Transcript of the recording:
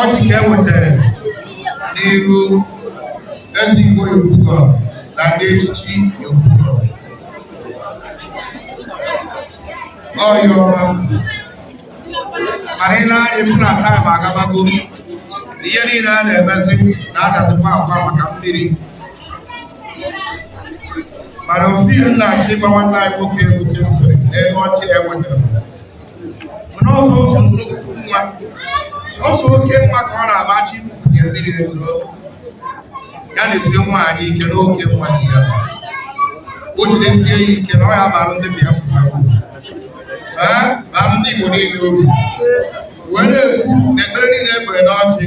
ọjị ka e nwetara n'iru Eze Igbo Yopougon na ndị echichi Yopougon ọyọ mana i nee anya ị fụ na taịm agabago ihe niile a na-emezi na-adazikwa agwa maka mmiri mana osi nna achịkwa nwanne anyị nwoke Ebute sịrị n'ebe ọjị e nwetara mana ọsọ ọsọ nnukwu nwa ọsọ oke nwa ka ọ na-agbachi nke mmiri ego ya na-esi nwaanyị ike n'oke nwa ya o jidesie ya ike na ọ ya bara ndị Biafra ee bara ndị Igbo niile obi wee na-ekwu na ekpere niile e kpere n'ọjị